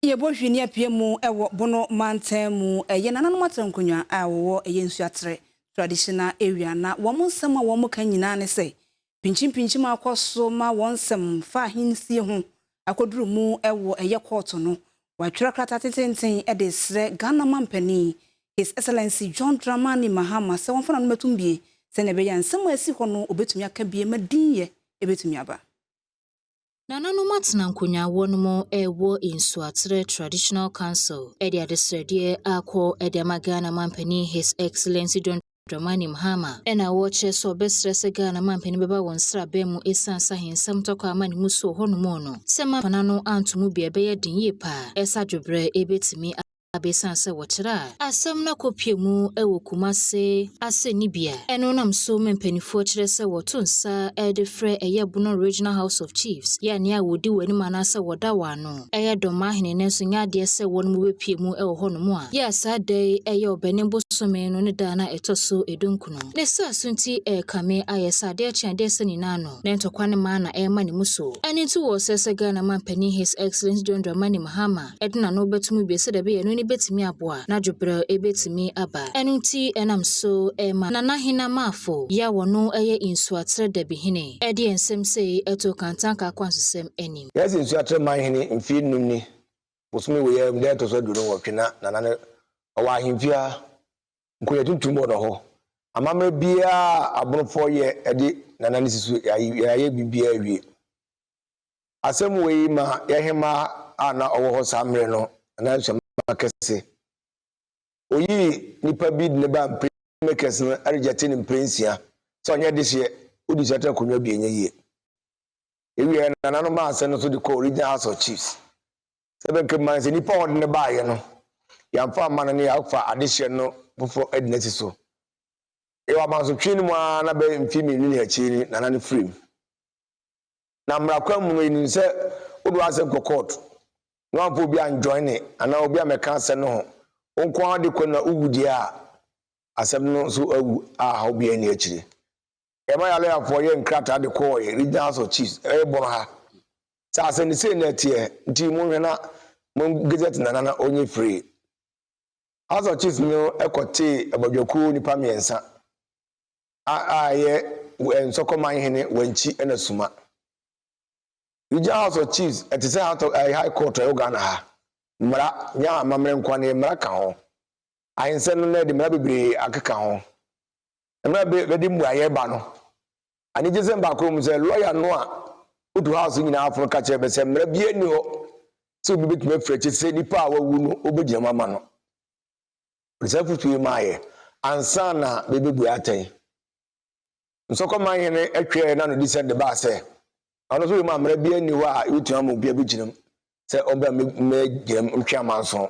Yɛbɔ hwi ne apue mu wɔ Bono mantam mu. Ɛyɛ nananom atankonwa a wɔwɔ ɛyɛ Nsuatere traditional area na wɔn nsɛm a wɔn ka nyinaa ne sɛ pinkyimpinkyim akɔ so ma wɔn nsɛm fa ahensie ho akɔduru mu wɔ ɛyɛ kɔɔto no. Wɔatwerɛ krataa tententen de resrɛ Ghana Mampanin His Excellency John Dramani Mahama sɛ wɔmfa nanomatum bie sɛnea ɛbɛyɛ a nsɛm a ɛsi hɔ no wɔbɛtumi aka bie ma din yɛ bɛtumi aba. Nananom atena nkonyaawoɔ no mu ɛwɔ Nsuaterɛ Traditional Council ɛde adesrɛdeɛ akɔ ɛde ama Ghana Mampanin His Excellency John Dramani Mahama ɛna ɔrekyerɛ sɛ ɔbɛsrɛ sɛ Ghana Mampanin bɛba wɔn sraban mu ɛsiane sɛ ahensɛm tɔkɔ a ama ne mu so wɔ hɔ nom no sɛ Mampana no anto mu bi a ɛbɛyɛ den yie paa ɛsɛ adwobrɛ ɛbɛtumi a besiane sɛ wɔkyerɛ a asɛm no akɔpue mu wɔ Kumase asɛnnibea no nam so ma mpanimfoɔ kyerɛ sɛ wɔto nsa de frɛ ɛyɛ Bono Regional House of Chiefs yɛ nea a wɔdi wɔn anim anaasɛ wɔda wɔn ano yɛ Dɔmahene nanso nyɛ adeɛ sɛ wɔnom bɛpue mu wɔ hɔnom a yɛ a saa da yi yɛ Ɔbɛnem bosome no ne da a na ɛtɔ so dunkunu. Ne saa so nti ɛrekame ayɛ sɛ adeɛ kye adeɛ sa nyinaa no ne ntɔkwa no ma na ɛrema ne mu so. Ɛno nti wɔ sɛ sɛ Ghana manpanin His Excellence John Dramani Mahama, ɛde n'ano bɛto mu bio sɛdeɛ ɛbɛyɛ a ɛno ani bɛtumi aboa a n'adwobrɛw bɛtumi aba. Ɛno nti ɛnam so ma Nana Hina Maafo yi a ɔno yɛ Nsuaterɛ Dabihene de nsɛm sei too Kantanka akwantusɛm anim. Yɛasi Nsuaterɛ Manhene mfeɛ nnum ni, bosome wei ara mu da a ɛtɔ so aduonu nwɔtwe na Nana no ɔwɔ ahemfie ha. Nkonnwa tuntum wɔ hɔ. Amammerɛ biara a Abonofoɔ yɛ de Nana no si so, yɛayɛ biribiara awie. Asɛm wei ma yɛn hemmaa a na ɔwɔ hɔ saa mmerɛ no nan so ma kɛse. Oyii nipa bi de no baa mpire makers no regyɛte no mpire nsia sɛ ɔnyɛ dehyeɛ, wodi sɛtɛ nkonnwa bi ɛnyɛ yie. Yɛwieɛ no nana no maa asɛm no so de kɔɔ Regional House of Chiefs sɛ bɛnka mma no sɛ nipa a ɔde no baeɛ no yɛamfa amma no ne yɛafa adehyeɛ no foforɔ adi no asi so. Yɛwɔ amansotwe no mu ara na bɛyɛ mfeɛ mmienu ne akyire ni nana no firim. na mmara kwan mu no yenim sɛ wode w'asɛm kɔ court na wamfa obi anjoine anaa obi ammɛka asɛm no ho, wo nko ara de kɔ na wuwu deɛ a, asɛm no nso awu a haw biara nni akyire. Yɛma yɛn lɔyafoɔ yɛɛ nkrataa de kɔɔ yɛn Regional House of Chiefs ɛyɛ Bono ha sɛ asɛm no sei na ɛteɛ nti monhwɛ na mo gazette Nana na ɔnyɛ firii. House of Chiefs no kɔtee abadwakuo nnipa mmiɛnsa a a yɛ wɛ nsɔkɔman hene wankyi ɛna suma regional house of chiefs ɛte sɛ house of ɛɛ high court ɛwɔ ghana ha mmara nyɛ amammerɛ nkoa ne mmara ka ho ahensɛ no na ɛde mmara bebree akeka ho mmara bɛ bɛde mmuayɛ ba no anigye sɛ baako mu sɛ lɔya no a otu house nyinaa aforo ka kyerɛ bɛ sɛ mmara bi ani hɔ sɛ obi betumi afiri akyi sɛ nipa a wawu no obegyina mu ama no Ɔsan pue maeɛ ansa na bɛbɛbue atɛn. Nsɔkɔman hene twɛɛ na no di sɛ de baa sɛ ɔno nso wei mu amena biara nni hɔ a yɛbɛtumi ama obi abɛgyinam sɛ ɔbɛ mmɛgyinam ntwe amanso.